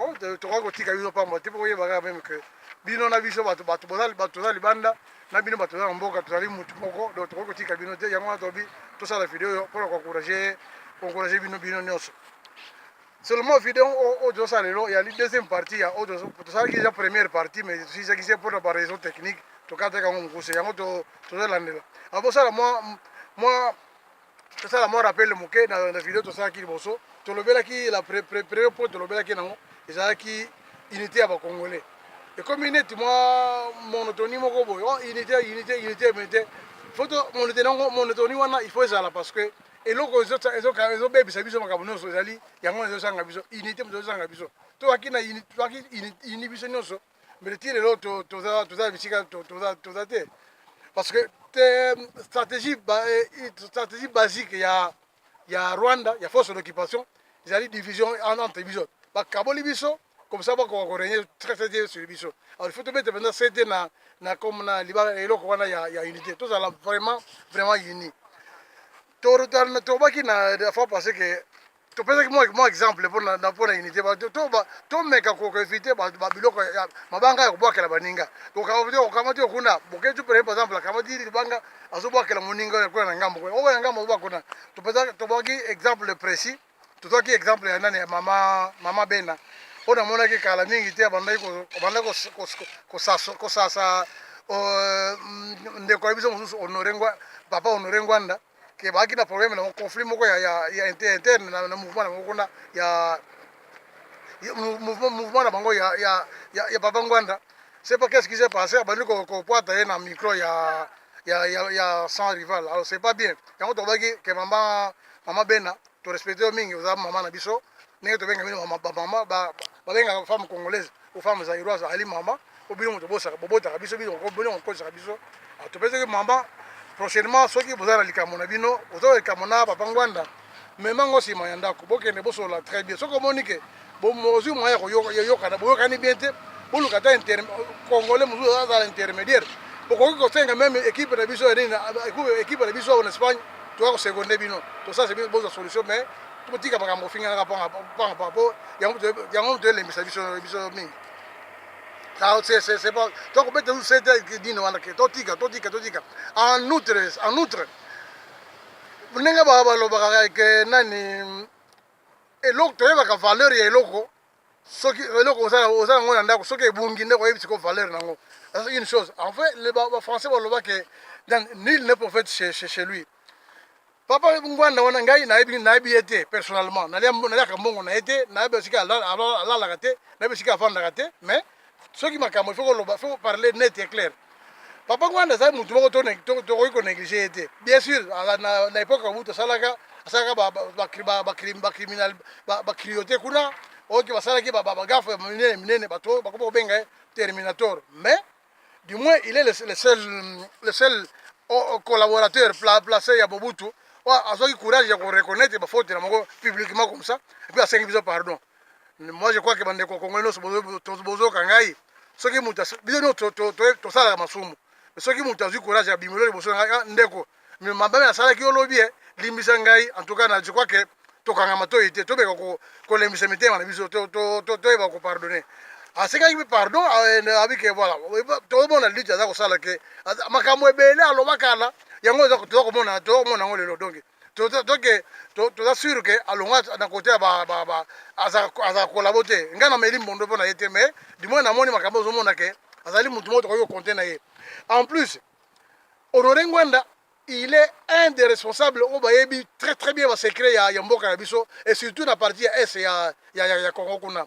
Oh, tokoki kotika bino pamba te mpo koyeba kaka meme ke bino na biso bato bato toza libanda na bino bato toza na mboka tozali motu moko donc tokoki kotika bino te yango wana tobi tosala video oyo mpona koencourage encourage bino bino nyonso seulement video oyo tozosala lelo yali deuxième partie ya oyo tosalaki eza première partie mais tosisaki se mpona ba raison technique tokataki yango mokuse yango tozolandela abosala mwa mwa tosala mwa rappel moke na, na video tosalaki liboso tolobelaki la pre, pre, premier point tolobelaki nango ezalaki unité ya bacongolais ekomi neti mwa monotoni moko boye oh, unité unité unité unité foto monotoni yango monotoni wana il faut ezala parce que eloko ezobebisa biso makambo nyonso ezali yango ezosanga biso unité moto ezosanga biso toyaki na ini biso nyonso mais ti lelo toza toza na bisika toza toza te parce que te stratégie eh, stratégie basique ya ya Rwanda ya force d'occupation ezali division entre biso bakaboli biso comme ça bakoka korenye très très bien sur biso alors il faut tobeta mpenza sete na na comme na libala eloko wana ya, ya unité tozala vraiment vraiment uni tobaki na fois passé que topesaki mwa mwa exemple mpo na mpo na unité ba- to- to- ba- tomeka ko- koevite ba- ba- biloko ya mabanga ya kobwakela baninga okamati okamati yo kuna boketu pene par exemple akamati libanga azobwakela moninga oyo kuna na ngambo kuna oyo na ngambo azoba kuna topesaki tobwaki exemple précis tozwaki exemple ya nani ya mama mama bena oyo namonaki kala mingi te abandaki ko- abandaki kos- kos- kosasa- kosasa euh, mm, ndeko ya biso mosusu honore Ngwa- papa honore ngwanda ke baaki na problème na conflit moko ya, ya, ya interne na, na mouvement na bango kuna ya mouvement, mouvement na bango ya, ya, ya, ya papa ngwanda c'est pas qu'est-ce qui s'est passé abandi kopwata ye na micro ya ya, ya, ya sans rival alors c'est pas bien yango tobaki ke mama mama bena torespecte yo mingi oza mama na biso ndenge tobenga bino bamama babengaka femme congolaise ou femme zaïroise ali mama po bino moto bobotaka biso bino kokosaka biso ah, topesaki mama prochainement soki boza na likambo na bino oza likambo na papa ngwanda mema ngo nsima ya ndako bokende bosolola très bien soki omoni ke ozwi moyen ya koyokana boyokani bien te boluka ata congolais mosusu azala intermédiaire bokoki kosenga meme équipe na biso ya nini équipe na biso awa na espagne toya koseconde bino tosasa bino bozwa solution mais Totika makambo ofinganaka panga panga panga po yango yango to elembisa biso biso mingi. Ça c'est c'est c'est pas donc on peut te dire que dino wana que totika totika totika en outre en outre ndenge ba balobaka que nani eloko toyebaka valeur ya eloko soki eloko oza na oza nango na ndako soki ebungi nde oyebi siko valeur nango eza une chose en vrai le ba, ba français baloba ke donc nul ne prophète chez, chez, chez lui papa ngwanda wana ngai nayebi nayebi ye te personnellement naliaka mbongo na ye te nayebi esika alalaka te nayebi esika afandaka te mais soki makambo ifo koloba ifo koparle net et clair papa ngwanda azali motu moko tokoki konéglige ye te bien sûr na époque ya mobutu asalaka asalaka bacriminal bacriote kuna oyoki basalaki bagafe minene minene bato oyo bakomi kobenga ye terminator mais du moins il est le seul, le seul oh, oh, collaborateur placé ya mobutu azwaki courage ya koreconnaitre bafaute na moko publiquement comme ça epuis asengi biso pardon moi je crois que bandeko congolais nyonso bozoka ngai soki moto biso nyonso tosalaka masumu soki moto azwi courage ya bimelo liboso na ngai ah, ndeko mabe nasalaki yo lobi e eh, limbisa ngai en tout cas na je crois que tokanga matoi te tobeka kolembisa mitema na biso toyeba kopardonne asengaki mpe pardon abi ke voilà tozomona lite aza kosala ke makambo ebele alobaka na yango toza komona yango lelo donke donc toza sur ke alonga na kote ya azala kolabo te ngai nameli mbondo mpo na ye te mais du moins namoni makambo ozomona ke azali motu moko tokoki kokonte na ye en plus honore ngwanda il est un des responsables oyo bayebi très très bien basecret ya, ya mboka na biso et surtout na parti ya est ya, ya, ya, ya congo kuna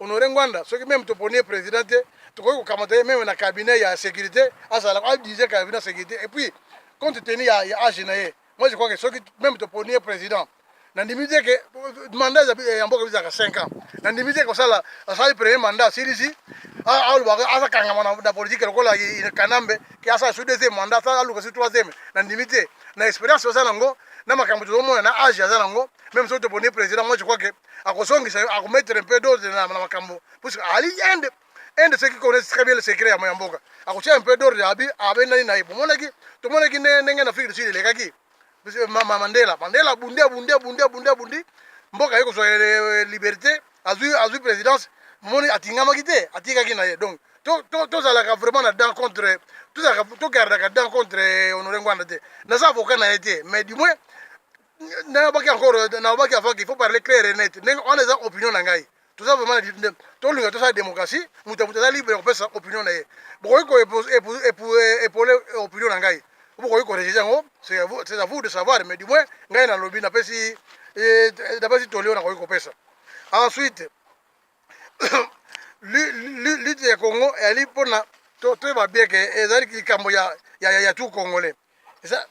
Honore Ngwanda soki meme toponi ye president te tokoki kokamata ye meme na cabinet ya securite azala adirige cabinet ya securite et puis compte tenu ya, ya age na ye moi je crois que soki meme toponi ye president nandimi te ke mandat ya mboka bizaka 5 ans nandimi te kosala asali premier mandat asilisi alobaka azakangama na politike lokola kanambe ke asala su deuxième mandat asala aluka su troisième nandimi te na expérience oza nango na makambo tozomona na age aza nango meme soki toponi ye president moi je crois que akozongisa yo akomettre un peu d'ordre na makambo puisque ali inde inde soki connaisse très bien le secret ya moya mboka akotia un peu d'ordre abi abendani na ye bomonaki tomonaki ndenge na afrique du sud elekaki mandela mandela abundi abundi abundi abundi abundi mboka ye kozwa euh, liberté azwi azwi présidence moni atingamaki te atikaki na ye donc tozalaka vraiment na dent contre tozalaka togardaka dent contre euh, honore ngwanda te naza avocat na ye te mais du moins nayabaki encore nayabaki avant qu'il faut parler clair et net ndenge wana eza opinion na ngai toza vraiment tolinga tosala démocratie moto ya moto aza libre ya kopesa opinion na ye bokoki koepole opinion na ngai bokoki korejete yango c'est à vous de savoir mais du moins ngai nalobi napesi napesi toli oyo nakoki kopesa ensuite lutte ya congo eyali mpona toyeba bien ke ezali likambo ya tout congolais eza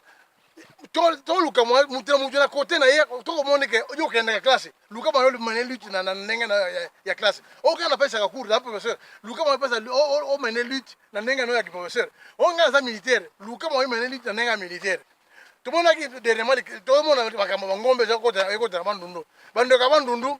toluka moto na moto na kote na ye tokomoni ke yo okendaka classe luka mwana omene lutte na ndenge ya classe oyo kaka napesaka cours na professeur luka mwana pesa omene lutte na ndenge na ya kiprofesseur oyo ngai naza militaire luka mwana omene lutte na ndenge ya militaire tomonaki dernièrement tomona makambo mangombe ekotela bandundu bandeko ya bandundu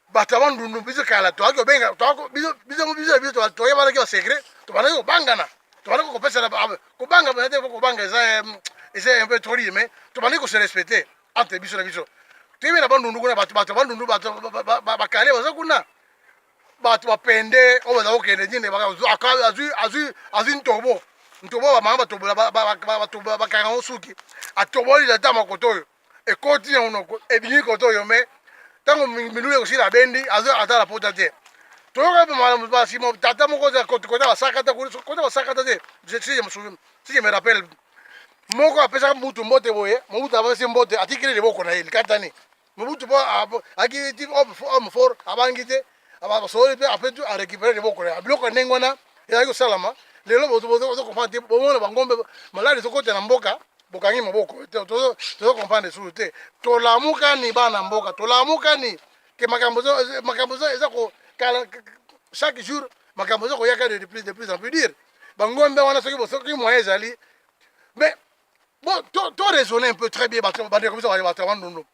bato ya bandundu biso kala toyaki kobenga biso biso biso toyaki balaki ba secret tobandaki kobangana tobandaki kopesana kobanga bana te kobanga eza eh, eza un peu trop dire mais tobandaki kose respecter entre biso na biso toyebi na bandundu kuna bato bato ya bandundu bato bakale baza kuna bato bapende oyo baza kokende nini azwi ntobo ntobo bamama batobola bakanga ngo suki atoboli na ta makoto oyo ekoti na monoko ebimi koto yo me ntango milulu ekosila abendi atala pota te toyoka basima tata moko kota basakata kota basakata te si je me rappelle moko apesaka mobutu mbote boye mobutu apesi mbote atikili liboko na ye likatani mobutu po akiti homme fort abangi te abasololi mpe apres tout arecupere liboko na ya biloko ya ndenge wana ezalaki kosalama lelo bozokomprendre te bomona bangombe maladi ezokota na mboka bokangi maboko tozokomprendre sulu te tolamukani bana mboka tolamukani ke makambo makambo eza kokala chaque jour makambo eza koyaka de plus de plus en plus dire bangombe wana soki bosoki moyen ezali mais bo to raisonne un peu très bien bato bandeko biso bato ya bandundu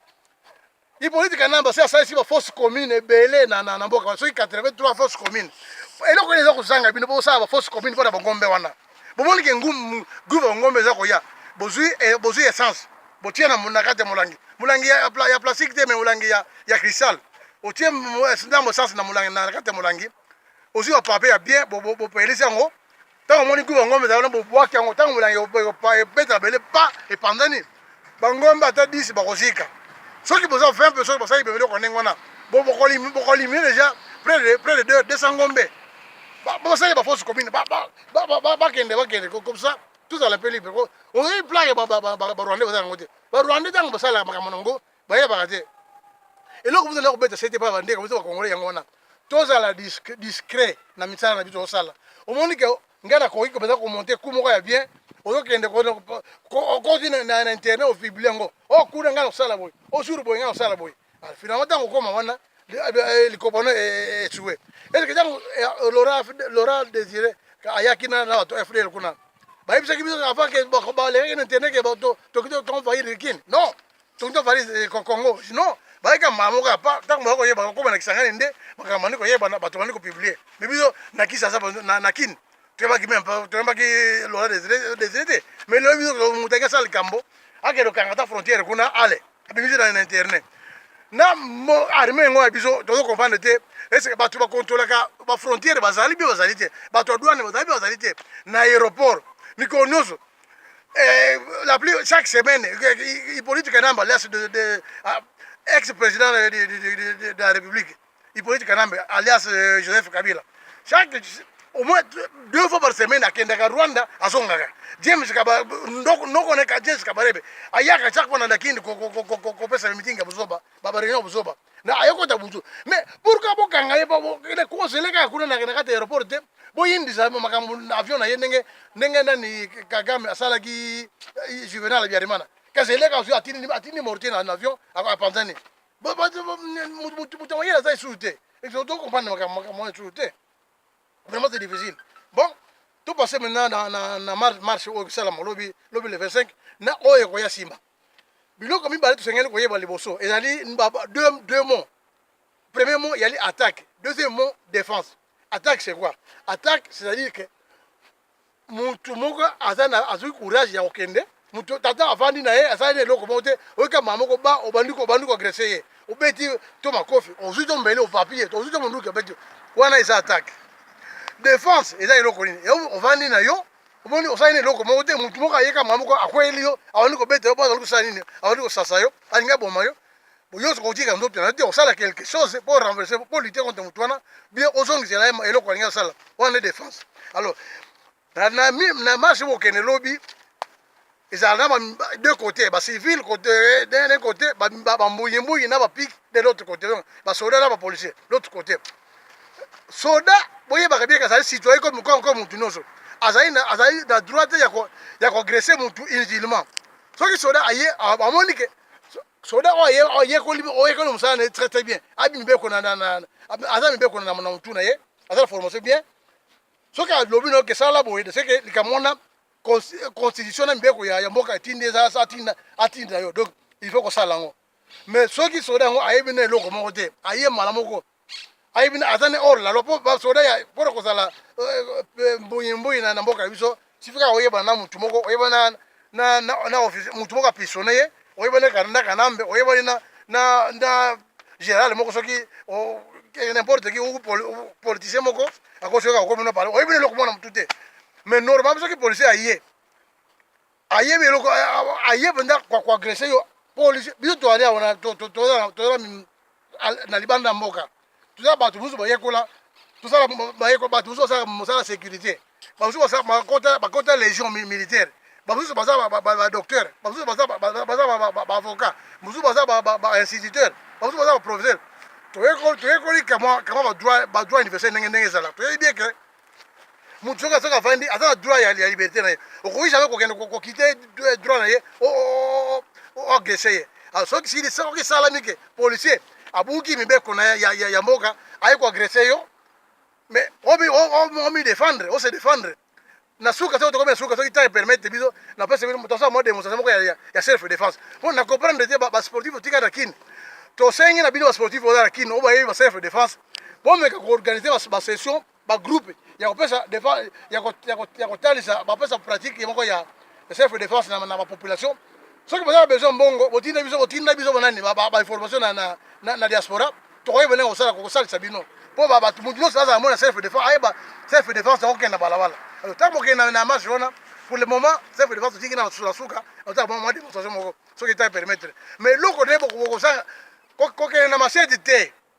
Hippolyte Kanamba se asalisi ba fausses communes ebele na na, na mboka wana soki 83 fausses communes eloko nini eza kozanga bino mpo bosala ba fausses communes mpo na bangombe wana bomoni ke ngumu guva bangombe eza koya bozwi eh, bozwi essence botie na na kati ya molangi molangi ya, ya, ya plastique te me molangi ya, ya cristal otie ndambo essence na molangi na kati ya molangi ozwi ba papier ya bien bopelisi yango ntango omoni kuba ngombe ezalaki na bobwaki yango ntango molangi ebeta bele pa epanzani bangombe ata 10 bakozika soki boza 20 mpe soki basali bemeli oko ndenge wana bokolimine deja près de 200 ngombe bosali bafosse commune bakende bakende comme ça tozala mpe libre oyebi plage barwandais baza yango te barwandais ntango basalaka makambo na yango bayebaka te eloko moto ezali kobeta sete mpo bandeko biso bakongole yango wana tozala discret na misala na biso osala omoni ke ngai nakoki mpenza komonte ku moko ya bien ozokende okoti na internet ofibli yango o kuna ngai nakosala boye o jour boye ngai nakosala boye ah, finalement ntango okoma wana eh, likobano esue eh, eh, eske ntango lora désiré ayaki na bato fdl kuna bayebisaki biso avant ke balekaki na internet ke toki toenvahir kin non tonto valise eh, congo non bayaka mbala moko ya pa ntango baya koyeba kokoma na kisangani nde makambo bandi koyebana bato bandi kopiblie me biso na kisasa na kine toyebaki meme toyebaki lola desire te mais lelo biso moto ake asala likambo akende okanga ata frontière kuna ale abimisi na internet na arme yango ya biso tozo comprendre te ese bato bakontrolaka bafrontière bazali mpe bazali te bato ya douane bazali mpe bazali te na aéroport mikolo nyonso la plus chaque semaine Hippolyte Kanamba alias de, de ah, ex-président de, de, de, de, la République Hippolyte Kanamba alias euh, Joseph Kabila chaque au moins deux fois par semaine akendaka Rwanda azongaka James Kaba ndoko noko neka James Kabarebe ayaka chaque fois na Kindi ko ko ko ko ko pesa meeting ya buzoba ba réunion buzoba na ayokota butu mais pourquoi bokanga ye kozele kaka kuna na kati ya aéroport te boyindisa makambo na avion na ye ndenge ndenge nani kagame asalaki eh, juvenal abiarimana kasi eleka ozwi atindi atindi mortier na avion apanzani moto mayele aza lisusu te to comprendre makambo makambo wana lisusu te vraiment c'est difficile bon to passe maintenant na, na, na marche oyo esalama lobi lobi le 25 na oyo ekoya nsima biloko mibale tosengeli koyeba liboso ezali deux, deux mots premier mot yali attaque deuxième mot défense attaque c'est quoi attaque c'est à dire que mutu moko aza na azwi courage ya kokende mutu tata avandi na ye asali na eloko moko te oyika mama moko ba obandi obandi koagrese ye obeti to makofi ozwi to mbele opapi ye ozwi to monduki obeti wana eza attaque défense eza eloko nini ovandi na yo omoni osali na eloko moko te motu moko ayeka mwa moko akweyeli yo awandi kobeta yo mpo azali kosala nini awandi kosasa yo alingi aboma yo boyoso kotika nzoto na yo te osala quelque chose mpo renverse mpo lite contre motu wana bie ozongisela ye eloko alingi asala wana nde defense alors na marche bokende lobi ezala na ba deux côtés ba civil côté d'un côté ba ba mbuyi mbuyi na ba pic de l'autre côté donc ba soda na ba policier l'autre côté soda boyebaka bien azali citoyen comme comme comme mutu nyonso azali na azali na droit te ya ko ya ko agresser mutu inutilement soki soda aye amoni ke soda oyo ayekoli oyekoli mosala na ye très très bien abi mibeko na na aza mibeko na na mutu na ye aza na formation bien soki alobi na yo ke sala boye de seke likambo wana constitution na mibeko ya, ya mboka etindi eza atinda atinda yo donc il faut kosala yango mais soki soda yango ayebi na eloko moko te aye mala moko ayebi na aza ne hors la loi mpo basoda ya mpo na kozala euh, euh, mbuyi mbuyi na mboka na biso sifika oyebana na motu moko oyebana na, na, na office motu moko apisone ye oyebani na kananda kanambe oyebani na na na general moko soki eh, n'importe qui ou politicien moko akosi yoka okomi na parle oyebi eloko mwana motu te mais normalement soki policier aye ayebi eloko aye mpenza koagresse yo policier biso toalia wana tozala na libanda ya mboka toza bato mosusu bayekola tosala bayekola bato mosusu basala mosala ya sécurité bamosusu bakota légion militaire bamosusu baza badocteur bamosusu baza baavocat mosusu baza bainstituteur bamosusu baza baprofesseur toyekoli kama badroit universel ndenge ndenge ezala toyebi bien ke moto soki asoki avandi aza na droit ya, ya liberté na ye okoki jamais kokende kokite droit na ye oagrese ye ah, soki sili soki esalami ke policier abuki mibeko na ya, ya, ya mboka aye koagrese yo mais omi défendre ose défendre na suka soki tokomi na suka soki ntango epermettre biso napesa bino moto asala mwa démonstration moko ya self défense mpo na comprendre te basportif otika na kini tosengi na bino basportif oza na kini oyo bayebi ba self défense bomeka ko organiser ba, ba session ba groupe ya kopesa ya kotalisa bapesa pratique ye moko ya self defense na, na bapopulation soki boza na besoin mbongo botinda biso botinda biso bonani bainformation ba, na, na, na diaspora tokoki bone kosala kosalisa bino mpo bato moto nyonso azala mona self defense ayeba self defense akokenda balabala ntango bokenda na marche wana pour le moment self defense totingi na suka suka otala mwa demonstration moko soki ta permettre mais eloko nde bokosala kokende na masedi te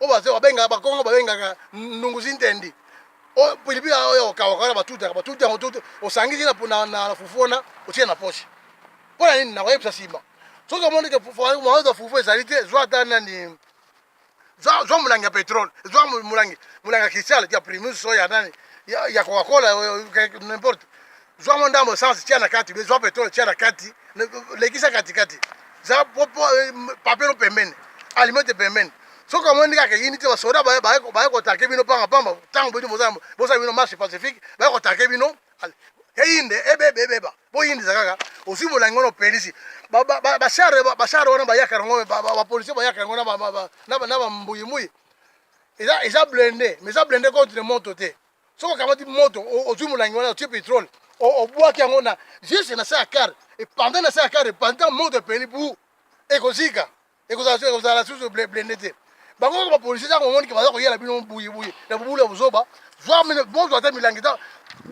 oyo bazo babengaka bakongo babengaka ndunguzi ntendi oyo pilipili oyo okawaka wana batutaka batuti yango tuti osangisi na fufu wana otie na poche mpo na nini nakoyebisa nsima soki omoni ke maoza fufu ezali te zwa ata nani zwa molangi ya petrole zwa molangi molangi ya cristal ya primus oyo ya nani ya coca cola n'importe zwa mwa ndambo essence tia na kati be zwa petrole tia na kati lekisa katikati za eh, papelo pembeni alimete pembeni soki amoni ndenge akeyini te basoda baye kotake bino panga pamba ntango bino bozala bino marche pacifique baye kotake bino eyinde ebeba ebeba boyindisa kaka ozwi molangi wana opelisi bashare wana bayaka yango bapolisie bayaka yango na bambuyimuyi eza blende mais eza blende contre moto te soki okamati moto ozwi molangi wana otie petrole obwaki yango na juste na se ya kare epanda na se ya kare epanda moto epeli bu ekozika ekozala susu blende te bango kaka bapolisi ntango omonike baza koyela bino buyibuyi na bobulu ya bozoba zwa bozwa ata milangi ta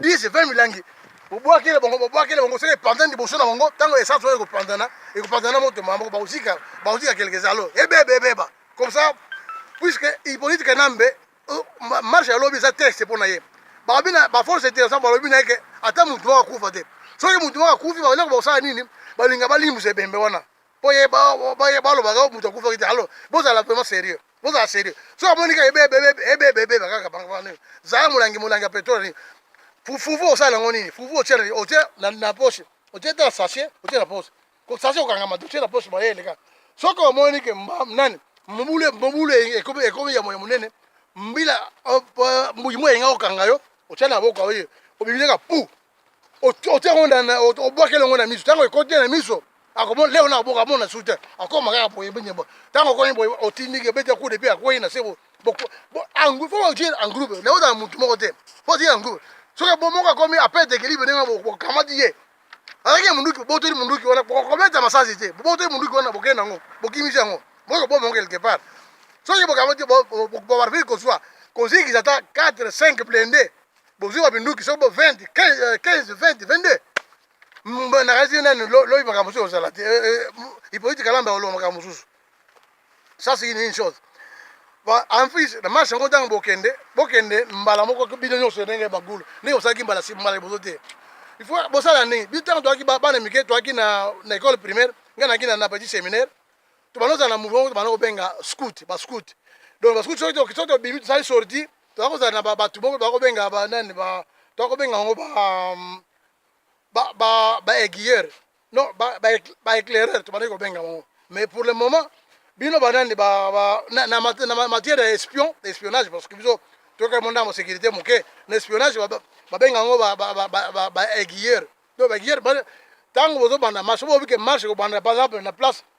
10 20 milangi bobwakele bango bobwakele bango soki epanda liboso na bango ntango esansi oyo ekopandana ekopandana moto mamoko bakozika bakozika kelekeza alo ebeba ebeba comme ça puisque ipolitike nambe marche ya lobi eza teste mpo na ye balobi na baforce intéressant balobi na ye ke ata motu moko akufa te soki motu moko akufi baeloko bakosala nini balinga balimbisa ebembe wana mpo ye balobaka oh, motu akufaki te alo bozala vraiment sérieux bozala sérieux soki amoni kaka ebebebebebebe kaka bango zala molangi molangi ya petrole nini fufu osala yango nini fufu otie na poche otie te na sachet otie na poche kosaze kokangama dossier na poche maye eleka soki omoni ke nani mobulu mobulu ekomi ekomi ya moya monene mbila mbuyi moya enga kokanga yo otya na boka oye obibileka pu otya yango na obwakela yango na miso ntango ekoti na miso akomona leo na boka amona su te akoma kaka boye nyembo ntango okomi boye otindiki obeti akude mpe akwei na se fo otie en groupe leo ozala motu moko te fo otie en groupe soki bomoko akomi apete ekilibe ndenge bokamati ye alaki ya munduki bobotoli munduki wana bokobeta masasi te bobotoli munduki wana bokei nango bokimisi yango boyo boma yango quelque part soki bokamati bobarvile kozwa kozikisa ata 4 5 blende bozwi babinduki soki bo 20 15 20 22 mbandakasi nani lobi makambo mosusu ozala te ipoliti kalamba oloba makambo mosusu ça c'est une chose en plus na marche yango ntango bokende bokende mbala moko bino nyonso ndenge bagulu ndenge bosalaki mbala mbala liboso te il faut bosala nini bino ntango toyaki bana mike toyaki na école primaire ngai nayaki na petit séminaire tobanda ozala na mouvement tobanda kobenga scout bascout donc bascout soki tobimi tosali sorti toza kozala na bato moko toza kobenga banani toza kobenga yango ba aiguilleur non ba, ba, ba éclaireur tobandaki kobenga bango mais pour le moment bino banani ba, ba, na, na, mat- na ma- matière ya espion espionnage parce que biso toyoka mo ndambo sécurité moke na espionnage ba- ba- babenga yango ba- ba- ba- ba- ba- ba aiguilleur to ba aiguilleur ba- ntango bozobanda marche boyobi ke marche ekobanda par exemple na place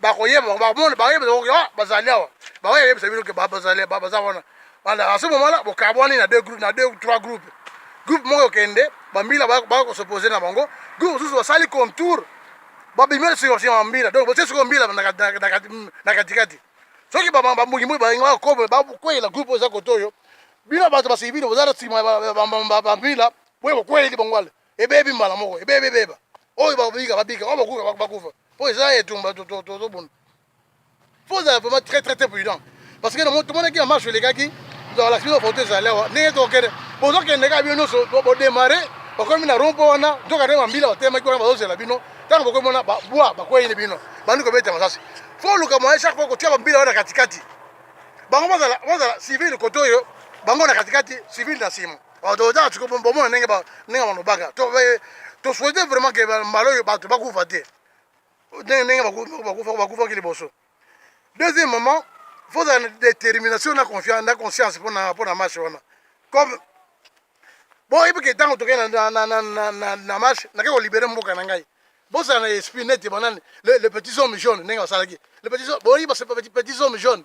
bakoyeba bango bakomona bakoyeba bango ah bazali awa bango yebisa bino ke bazali baza wana wana à ce moment là bokabwani na deux groupes na deux trois groupes groupe moko okende bambila baya kosopose na bango groupe mosusu basali contour babimi na sikosi ya mambila donc botie sikoyo mbila na katikati soki bambungimbuyi balingi bakoma bakweyela groupe oyo eza kote oyo bino bato basivile boza na nsima bambila boye bokweyeli bango ale ebebi mbala moko ebebi ebeba oyo babika babika oyo bakufa bakufa mpo eza etumba tozobunda mpo ozala vraiment très très très prudent parce que tomonaki na marche elekaki balakisi bino foto ezali awa ndenge tokende bozokende kaka bino nyonso bodemare bakomi na rompo wana nzoka nde bambila batelemaki wana bazozela bino ntango bakomi wana babwa bakweyini bino bandi kobeta masasi fo oluka moyen chaque fois kotia bambila wana katikati bango bazala civile kote oyo bango na katikati civile na nsima totala siko bomona ndenge ndenge balobaka tosouhaite vraiment ke mbala oyo bato bakufa te ndenge ndenge bakufaki liboso deuxième moment fozala na détermination na confiance na conscience mpona mpona match wana comme boyebi ke ntango tokei na match nakei kolibere mboka na ngai bozala na esprit neti banani le petit homme jaune ndenge basalaki le petit boyebi petit homme jaune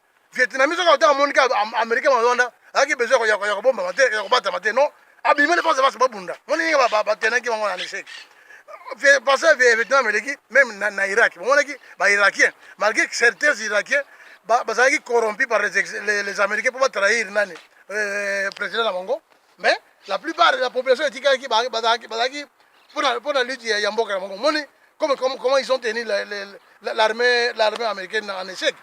Vietnamese soki autaka amoni ka américain bango wana ayaki besoin ya kobombama te ya kobatama te non abimeli fasi fasi babunda moni ndenge batenaki bango na échec parce que vietnam eleki même na irak bomonaki bairakien malgré que certains irakiens bazalaki corrompu par les américains mpo batrahir nani euh, président na bango mais la plupart de la population etikalaki bazalaki bazalaki pona pona lutte ya, ya mboka na bango moni comme, comme comment ils ont tenu l'armée l'armée américaine en échec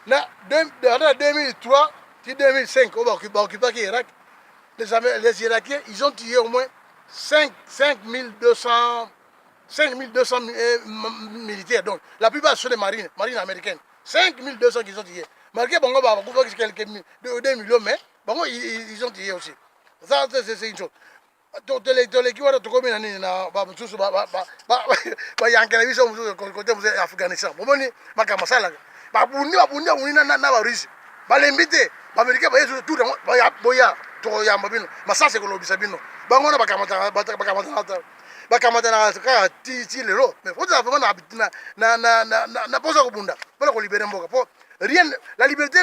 na ata 2003 ti 2005 oyo baoccupaki irak les, les irakiens ils ont tué au moins 5, 5200 5200 euh, militaires donc la plupart sont des marines marines américaines 5200 qu'ils ont tué malgré bango bakufaki quelques 2 millions mais bango ils ont dit aussi ça c'est une chose toleki wana tokomi na nini na bamosusu bayankela biso mosusu kote mosusu ya afghanistan bomoni makambo asalaka babundi babundi babundi na barusse balembi te baamerikain baye susu tour yango boya tokoyamba bino masasi ekolobisa bino bango wana bakamatanata bakamatanaka kaka ti lelo mais fozala vraimen na posa kobunda mpona kolibere mboka po rien la liberté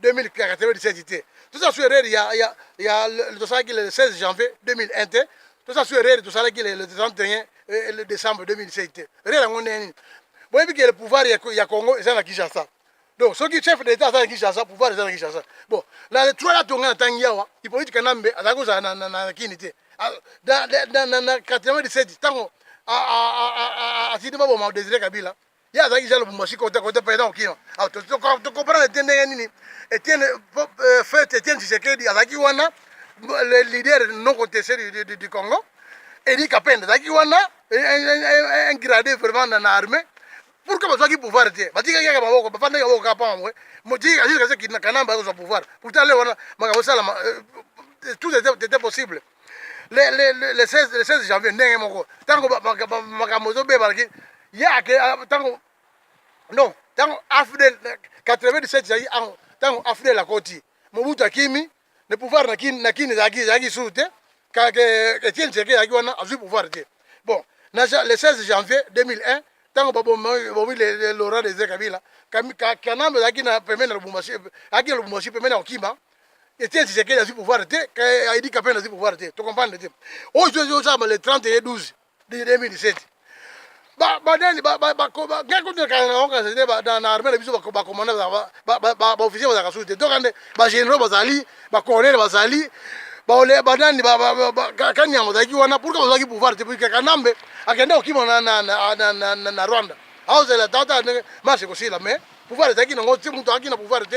2097 te toza su erreur ya ya ya tosalaki le 16 janvier 2001 te toza su erreur tosalaki le 31 eh, le décembre 2007 te erreur yango ndenge nini boyebi ke le pouvoir ya, ya congo eza na kinshasa donc soki chef d'état aza na kinshasa pouvoir eza na kinshasa bon na le 3 lato ngai natangi awa hippolyte kanambe azali kozala na, na, na, na kini te ah, na, na, na, na 97 ntango asili baboma desire kabila ye azalaki jean lubumba sikoyo te kote president okino tokoprana te ndenge nini etienne euh, fete etienne tshisekedi azalaki wana le leader non contesté du congo edi kapende azalaki wana un grade vraiment na armée pourquoi bazwaki pouvoir te batikaki kaka maboko bafandaki maboko kaka mpo mamwe motika jusqu'à ce kanamba akozwa pouvoir pourtant le wana makambo osalama euh, tout était possible le, le, le, le 16, le 16 janvier ndenge moko ntango makambo ezobeba laki ye ake ntango non ntango afdel 97 ezalaki ntango afdel akoti mobutu akimi le pouvoir na kini na kini ezalaki ezalaki suru te etienne tseke ezalaki wana azwi pouvoir te bon na le 16 janvier 2001 ntango babomi laurent dese kabila kanambe ezalaki na pembeni na lubumbashi azalaki na lubumbashi pembeni ya kokima Etienne Tshisekedi azwi pouvoir te, Aidi Kapenda azwi pouvoir te. To comprendre te. Oyo ozo ozo sala le 30 et 12 de 2017. Ba ba nani ba ba ba ko ba ngai ko tuna kana na kana zede ba na armée na biso ba ba commandant ba ba ba ba ba officier ba zaka sute. Donc ande ba généraux bazali, ba colonel bazali, ba ole ba nani ba ba ba kanya bazaki wana pourquoi bazaki pouvoir te puisque Kanambe akenda okima na na na na na, na Rwanda. Aozela tata marche kosila mais pouvoir ezalaki nango te mutu akina pouvoir te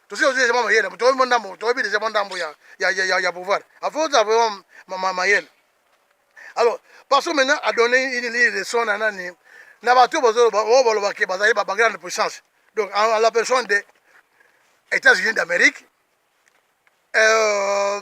tosi ozwi deja mwa mayele moto oyebi mwa ndambo toyebi deja mwa ndambo ya, ya, ya, ya, ya pouvoir afo ozala vraiment ma, ma, mayele alors parce que maintenant adonne une, une leçon na nani na bato oyo bazoloba oyo baloba ke bazali ba grande puissance donc en, en la personne de états-unis d'amérique euh,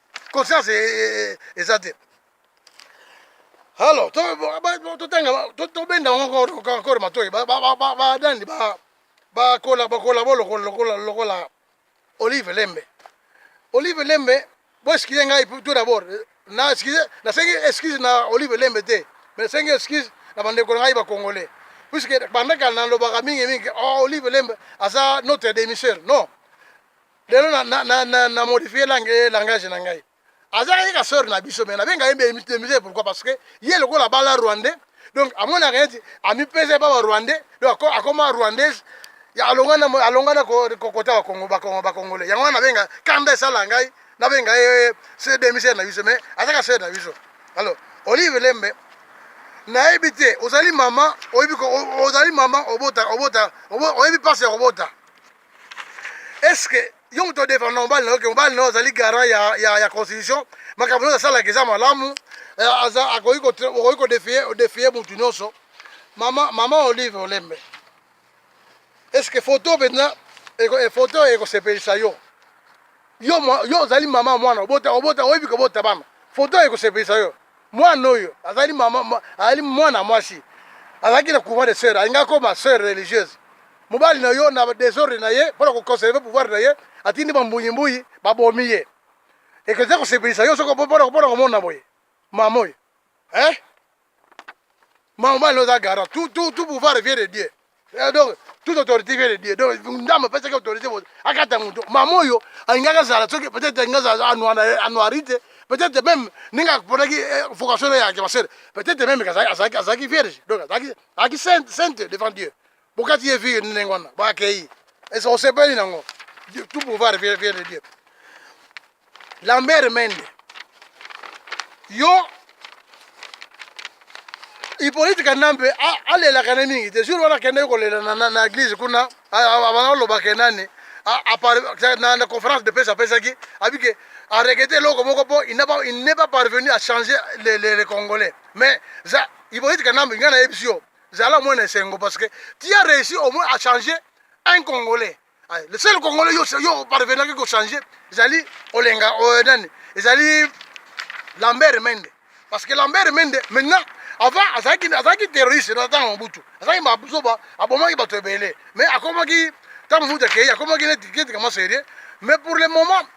conscience e, e, e, eza te alors tobenda encore matoi badandi bakola bo lokola olive lembe olive lembe boeskize ngai tout d'abord na excuse nasengi excuse na olive lembe te mais nasengi excuse na bandeko na ngai bacongolais puiske bandaka nalobaka mingi mingi oh, olive lembe aza notre démissaire non lelo na, na, na, na, na modifie langue, langage na ngai azalaka ye ka sœur na biso me nabenga ye mbemite pourquoi parce que ye lokola abala rwandais donc amonaka neti amipesa epa ba rwandais donc akoma rwandaise alongana alongana kokota bakongo bakongo bakongole yango wana nabenga kanda esala ngai nabenga ye se demisere na biso mais azaka sœur na biso alors olive lembe nayebi te ozali mama oyebi ozali mama obota obota oyebi mpasi ya kobota est ce que yo moto odefanda mobali na yo ke mobali na yo azali garant ya, ya, ya constitution makambo nyonso asalaka eza malamu eh, akoki kodefie motu nyonso mama, mama olive olembe est ce que foto mpenza eh, foto ekosepelisa yo yo ozali mama mwana obota obota oyebi kobota bana foto ekosepelisa yo Mwana oyo azali mama, ma, azali mwana mwasi azalaki na couvent de sœur, alinga koma sœur religieuse. Mobali na yo na desordre na ye mpo na koconserve pouvoir na ye atindi bambuyi-mbuyi babomi ye. Ekozali kosepelisa yo soki mpo na komona boye mama oyo eh? Maman mobali no oza garant tout, tout, tout pouvoir vient de dieu eh, donc toute autorité vient de dieu donc ndambo apesaki autorité akata moto mama oyo alingaki azala soki peut-être alingi azala anuari te peut-être même ndenge aponaki eh, vocation ya masere peut-être même azalaki vierge donc azalaki sainte devant dieu bokati ye vie ndenge wana bakei esa osepeli nango tout pouvoir vient de dieu lambert mende yo Hippolyte Kanambe alelaka ne mingi te jour wana akendaki kolela na eglise kuna alobaka nani na conférence de presse apesaki abike arekete eloko moko mpo il n'est pas parvenu à changer les congolais mais Hippolyte Kanambe ngai nayebisi yo zala moins esengo parce que tu as réussi au moins à changer un congolais ah, le seul congolais yo yo parvenaki ko changer ezali olenga euh, nani ezali Lambert Mende parce que Lambert Mende maintenant avant azalaki azalaki terroriste na ntango mobutu azalaki mazoba abomaki bato ebele mais akomaki ntango mobutu akei akomaki neti kama serie mais pour le moment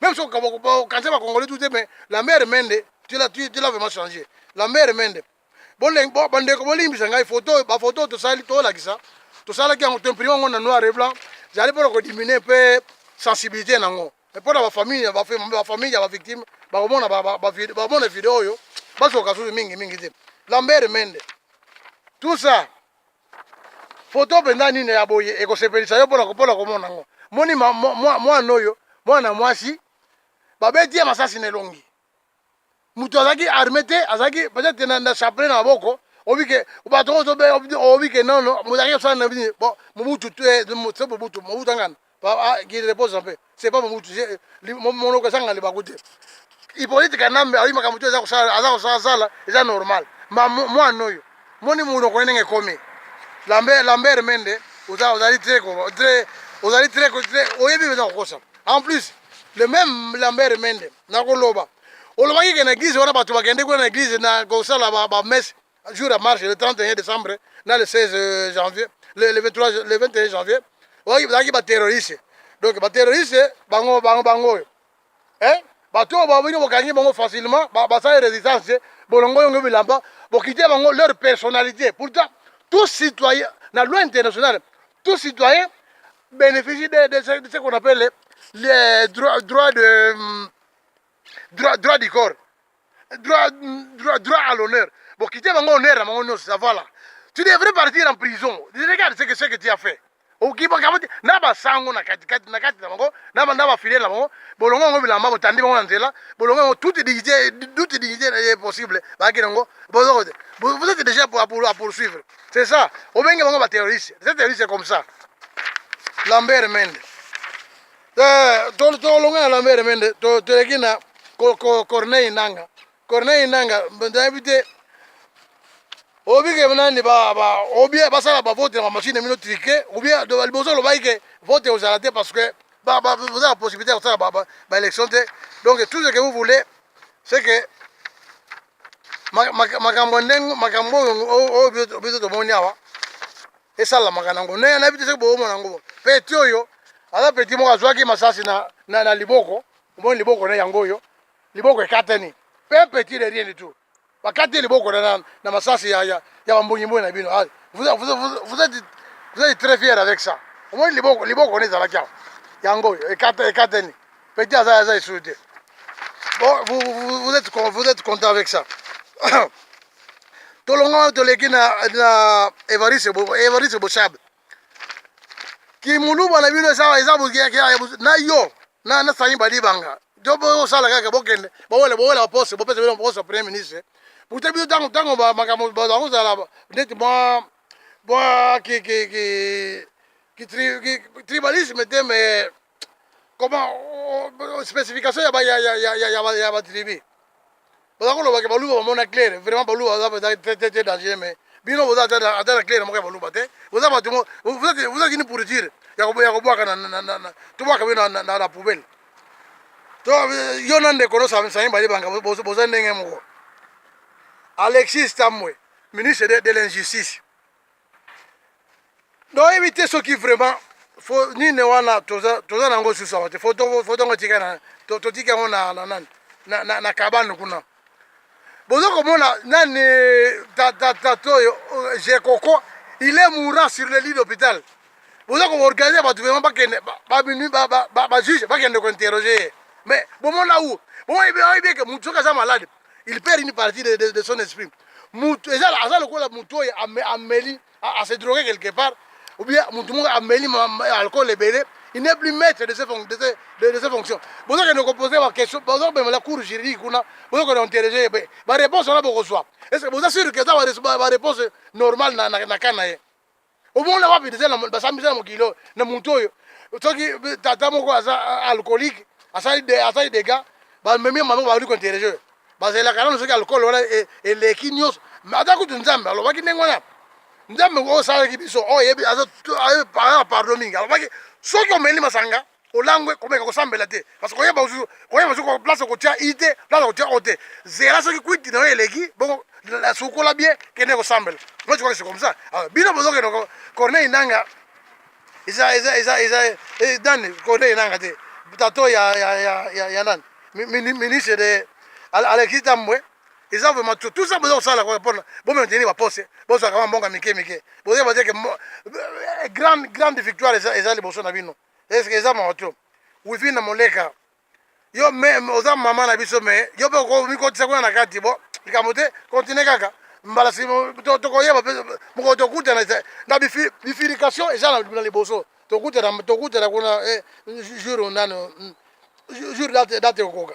Même si on cancer ba congolais tout mais la mère Mende, tu l'as tu, tu l'as vraiment changé. La mère Mende. Bon les bon bande ko bolimbisa ngai photo ba photo to sali to lakisa. To sala ki en imprimant ngona noir et blanc. J'allais pour ko diminuer peu sensibilité nango. Mais pour la famille, ba famille, ba famille ya ba victime, ba komona ba ba ba mona vidéo yo. Bazo kasu mingi mingi te. La mère Mende. Tout ça Foto mpenza nini ya boye ekosepelisa yo mpona mpona komona yango? Moni mwana oyo, mwana mwasi babeti ye masasi na elongi. Moto azalaki arme te, azalaki peut-être na, na chapelet na maboko obike bato oyo obike nono mozalaki kosala na bini bo mobutu te mobutu mobutu angana Ah, qu'il repose en paix c'est pas mobutu monoko ezanga libaku te ipolite kanambe ayebi makambo to eza kosala aza kosala sala eza normal ma mwana oyo moni monoko ye ndenge ekomi lambert lambert mende oza ozali très très ozali très très oyebi eza kokosa en plus le même lambert mende nakoloba olobaki ke na église wana bato bakende kuna na église na kosala bamese jour ya marche le 31 décembre na le 16 euh, janvier le, le 23 le 21 janvier bazalaki baterroriste donc baterroriste bango bango bango oyo eh? bato oyo babino bokangi bango facilement basali résistance te bolongo yongo bilamba bokite bango leur personnalité pourtant tout citoyen na loi internationale tout citoyen bénéficie de, de, ce, de ce qu'on appelle les droits droit de hum, droit, droit du corps droit droit droit à l'honneur bon quitter bango honneur na bango nyonso ça voilà tu devrais partir en prison regarde ce que ce que tu as fait okibakabati na basango na katikati na kati na bango na na bafiliale na bango bolongo yango bilamba botandi bango na nzela bolongo yango toute dignité toute dignité est possible bakaki nango bozo vous êtes déjà pour, pour, poursuivre c'est ça obenge bango baterroriste c'est terroriste comme ça lambert mende Eh, tolonga na lambere mende toleki na corneille nanga corneille nanga nayebi te obike nani obie basala bavote na bamashine mino trike obie liboso olobaki ke vote ekozala te parce que boza na possibilité ya kosala baélection te donc tout ce que vous voulez c'est que makambo ndenge makambo oyo biso tomoni awa esalamaka nango ne nayebi te soki boomona yango peti oyo aza peti moko azwaki masasi na, na, na liboko omoni liboko na yango oyo liboko ekatani pe peti de rien du tout bakati liboko na, na, na masasi ya, ya, ya bambongimbongi na bino ah, vous, vous, vous, vous, êtes, vous êtes très fier avec ça omoni liboko liboko na ezalaki awa yango oyo ekatani Petit aza aza lisusu te. Bon, vous, vous, vous, êtes, vous êtes content avec ça. tolonga toleki na, na Evariste Bo, Evariste Boshab. Kimuluba na bino eza eza na yo na na Sani Badibanga. Jo bo sala kaka bokende. Bowele bowele poste, bopesa bino poste premier ministre. Pourtant bino tango tango ba makambo ba kozala neti mwa mwa ki ki ki ki tribalisme te mais koma specification ya ba ya ya ya ya ba ya ba tribu baza koloba ke baluba bamona claire vraiment baluba baza baza très très très dangereux mais bino boza ata na- ata na claire moko ya baluba te boza bato mo- vous vous êtes vous êtes une pourriture ya kobo- ya kobwaka na- na- na- na- na- tobwaka bino na- na- na na poubelle to eh, yo na ndeko no Sam- Sami Badibanga bo- boza boza ndenge moko Alexis Tambwe ministre de, de l'injustice donc oyebi te soki vraiment fo nini wana toza toza na yango susu awa te fo tongo tika na totiki yango na na nani na, na, na kabano kuna bozo komona nani tata oyo jekoko il est mourant sur le lit d'hôpital boza koorganize bato vraimen bakende baminui bajuge bakende kointerroge ye mais bomona u boyebi eke motu soki aza malade il perd une partie de, de, de son esprit mutu eza aza lokola mutu oyo ameli ase drogue quelque part ou bien mutu moko ameli alcool ebele il n'est plus maître de ses de, de ses fonctions bozokende kopose baquestion bozobemela cour juridique kuna bozokende interroge ye pe baréponse wana bokozwa est ce que boza sur ke eza baréponse normale na, na, na ka na ye omona wapi deja basambisa na mokili oyo na motu oyo soki tata moko aza alcoolique asali dega bamemi mama baudi kointerroge bazelaka nano soki alcool wana e, eleki nyonso ata kutu nzambe alobaki ndenge wana nzambe oyo osalaki biso oyo ayebi pardon mingi alobaki soki omeli masanga olangwe komeka kosambela te parce que koyeba koyeba soki place okotia i te place okotia o te zela soki kwiti na yo eleki bongo sukola bie kende kosambela moi tukwaki comme ça ah, bino bozokende corneille nanga eza eza eza eza eh, nani corneille nanga te tato ya ya ya ya nani ministre de alexis tambwe eza vraiment tout tout ça boza kosala kaka mpona bomaintenir baposte bozwaka mwa mbongo mike mike bozoyeba te ke grande grande victoire eza liboso na bino Eske eza moto wifi na moleka yo me oza mama na biso me yo mpe okomikotisa kuna na kati bo likambo te continue kaka mbala tokoyeba mpe mokolo tokutana na bifilication eza na liboso tokutana tokutana kuna eh, jour nano hmm, jour date date okoka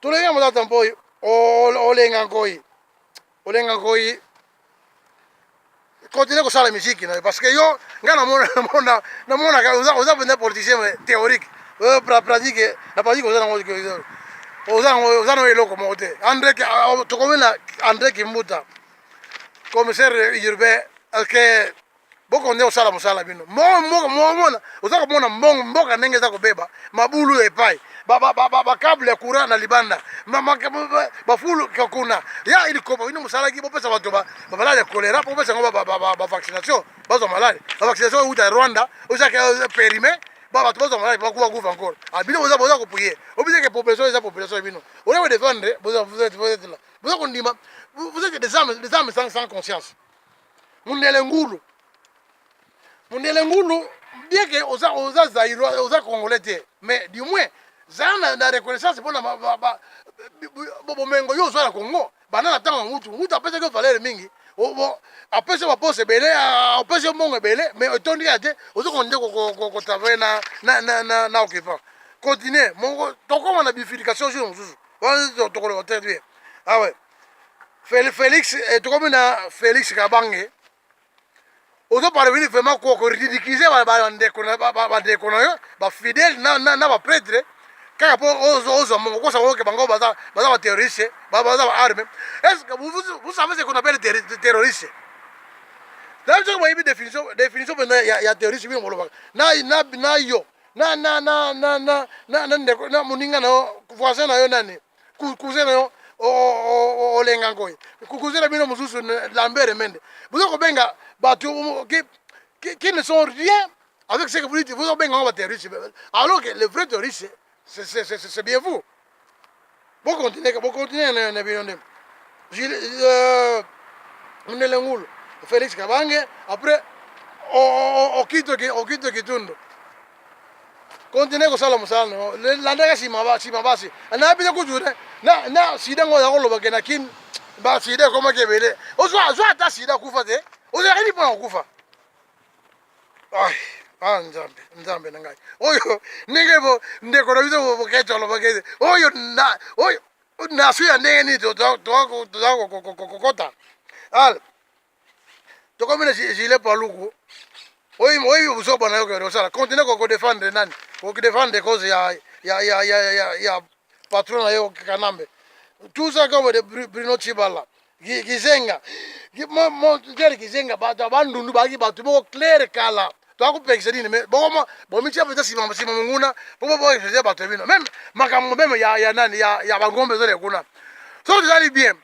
tulenga motata mpoi olenga nkoi olenga nkoi continue kosala miziki na yo parce que yo ngai namonaka oza mpenza politicien théorique pratique na pratique oza nango oza nango eloko moko te andre tokomi na andre kimbuta commissaire urbain alke boko nde osala mosala bino mona oza komona mbongo mboka ndenge eza kobeba mabulu ya epai bakable ya courant na libanda bafulu kuna ya ilikopa bino mosalaki bopesa bato bamaladi ya kolera bopesa yango bavaccination bazwa maladi bavaccination euta rwanda ozaki euh, perime bato bazwa maladi bakuba kufa encore ah, bino boza boza koprie obiseke population eza population ya bino oza kodefendre boza kondima vous êtes des âmes sans conscience Mundele ngulu. Mundele ngulu bien que oza oza zaïrois oza congolais te mais du moins zala na, na reconnaissance mpona bomengo yo ozwa na congo banda na ntango ya ngutu ngutu apesaki yo valere mingi apesi yo baposa ebele apesi yo mbongo ebele mais etondi kaka te ozo konde kotravaille na occupant continue moko tokoma na bifilication jour mosusu wana tokoloba te te awe Felix eh, tokomi na Felix Kabange ozo parveni vraiment koridikize bandeko na yo bafidèle na bapretre kaka mpo ozwa mongo kosa oyoke bango baza baterroriste baza baarme estce vous savez ce qu'on appelle terroriste nayebi soki boyebi définition mpenza ya terroriste bino bolobaka na yo na moninga na yo voisin na yo nani cousin na yo olenga ngoyi cousin na bino mosusu lambert mende boza kobenga bato qui ne sont rien avec ce que vous dites boza kobenga ngo baterroriste alors que le vrai terroriste c'est bien vous bokontinue bokontinue na bino nde euh, mundele ngulu félix kabange après okito kitundu continue kosala mosala na yo landaka nsima nsima basi nayebi te kutu te na sida ngo oza koloba ke na kin basida ekomaki ebele ozwa ata sida akufa te ozalaka nini mpona kokufa ah nzambe nzambe na ngai oyo ndenge bo ndeko na biso boketo alobaki ete oyo na oyo nasu ya ndenge nini toza kokota ale tokomi na gile paluku oyo oyo buzoba na yo kende osala continue ko defendre nani ko defendre cause ya ya ya ya ya, ya patron na yo kanambe tout ça comme de Bruno Chibala kizenga mo mo clair kizenga bato bandundu baki bato moko clair kala twakopekisa nini me bokoma bomitia mpenza nsima nsima monguna mpo boboekisa bato ya bino meme makambo meme ya, ya nani ya, ya bangombe ezole kuna soki tozali bien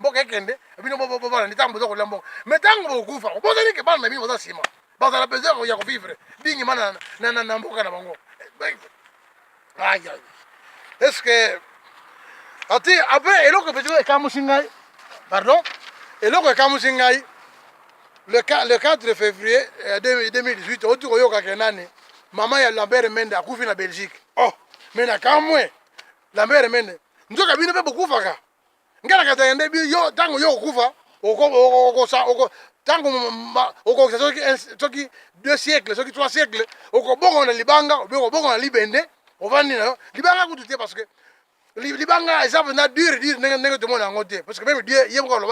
mboka ekende bino bobalani ntango boza kolia mboka me ntango bokufa obozali ke bana na bino baza nsima bazala besoin ya kovivre dingima na mboka na bango aya est ce que ati apres eloko petiko ekamusi ngai pardon eloko ekamusi ngai le 4 février 2018 oti koyokake nani mama ya lambert mende akufi na belgique oh me nakamwe lambert mende nzoka bino mpe bokufaka ngai nakata yende bi yo ntango yo okufa ntango okokisa soki deux siècle soki trois siècle okobonga na libanga obe okobonga na libende ovandi na yo libanga kutu te parce que libanga eza mpenza dure dure ndenge ndenge tomona yango te parce que meme dieu ye moko aloba